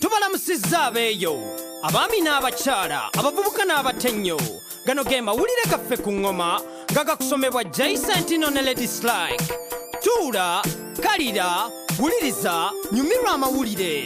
tubalamusizza abeeyo abaami n'abakyala abavubuka n'abatennyo gano ge mawulire gaffe ku ŋŋoma nga gakusomebwa jaisantino ne lady slike tuula kalira wuliriza nyumirwa amawulire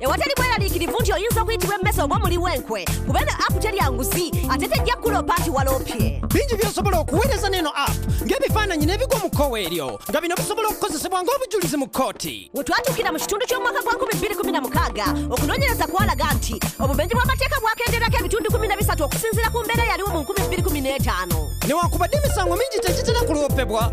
ewatali bweraliikirivu nti oyinza okuyitibwa emmese oba omuli w'enkwe kuba eno app terya nguzi ate tejja kukuloopa nti waloopye bingi by'osobola okuweereza n'eno app ng'ebifaananyi n'ebigwa mu kkowe eryo nga bino bisobola okukozesebwa ng'obujulizi mu kkooti we twatuukira mu kitundu ky'omwaka gwa 2016 okunoonyereza kwalaga nti obumenyi bw'amateeka bwakenderako ebitundu 13 okusinziira ku mbeera yaliwo mu 2015 newankubadde emisango mingi tegitera kuloopebwa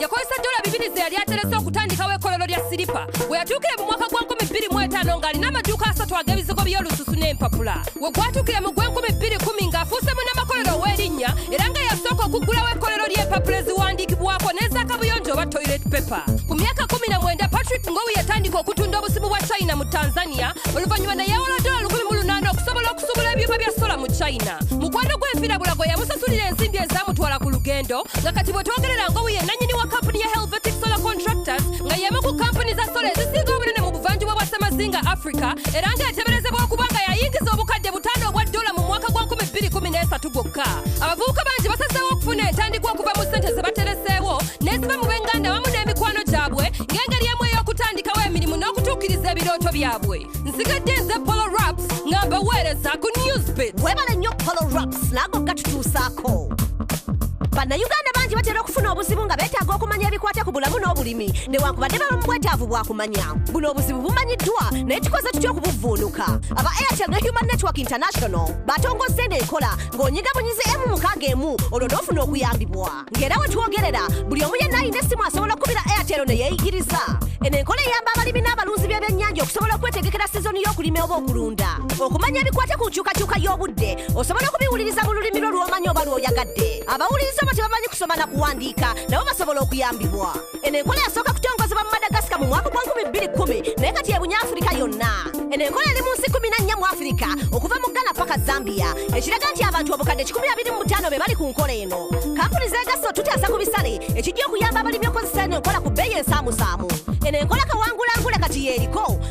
yakozesa dola bibiri ze yali aterese okutandikawo ekolero lya siripa we yatuukire mu mwaka gwa 25 ng'alina amaduuka asatu ag'ebizigo by'olususu n'empapula we gwatuukire mu gw'enkumi bbiri kumi ng'afuuse munnamakolero ow'erinnya era nga yasooka okuggulawo ekolero ly'empapula eziwandiikibwako n'ezakabuyonjo oba toilet paper ku myaka 19 patrick ngowi yatandika okutunda obusimu bwa china mu tanzania oluvannyuma neyewola dola 18 okusobola okusubula ebyuma bya sola mu china mukwano gw'enfirabula gwe yamusasulira ensimbi ezamutwala ku lugendo nga kati bwetwogerera ngobu ye nanyini wa kampuni ya helvetic solar contractors nga yemu ku kampuni za sola ezisinga obunene mu buvanjuba bwa semazinga africa era nga eteberezebwa okuba nga yayingiza obukadde butaano obwa dola mu mwaka gwa 213 gwokka abavubuka bangi basazeewo okufuna entandikwa okuva mu ssente ze batereseewo neziba mu benganda wamu n'emikwano gyabwe ng'engeri emu ey'okutandikawo emirimu n'okutuukiriza ebirooto byabwe nsigadde nze polo raps nga mbaweereza ku newsbit webale nnyo polo raps naago gatutuusaako bannayuganda bangi batera okufuna obuzibu nga beetaaga okumanya ebikwata ku bulamu n'obulimi newankubadde baba mu bwetaavu bwakumanya buno obuzibu bumanyiddwa naye tukoze tutya okubuvvuunuka aba airtel ne human network international batongozza eno enkola ng'onyiga bunyize emu mukaaga emu olwo n'ofuna okuyambibwa ng'era we twogerera buli omu yenna alina essimu asobola okukubira airtel ne yeeyigiriza eno enkola eyamba abalimi n'abalunzi b'ebyennyanja okusobola okwetegekera sizoni y'okulima oba okulunda okumanya ebikwata ku nkyukakyuka y'obudde osobola okubiwuliriza mu lulimi lwo lw'omanyi oba lw'oyagadde abawuliriza oba tebamanyi kusoma na kuwandiika nabo basobola okuyambibwa eno enkola yasooka kutongozebwa mu madagasika mu mwaka gwa 210 naye kati ebunya afirika yonna eno enkola eri mu nsi 14 mu afirika okuva mu ghana paka zambia ekiraga nti abantu obukadde 25 be bali ku nkola eno kampuni zeegasse otutaasa ku bisale ekijja okuyamba abalimi okozesa eno enkola ku bbeeyi ensaamusaamu eno enkola kawangulangule kati yeeriko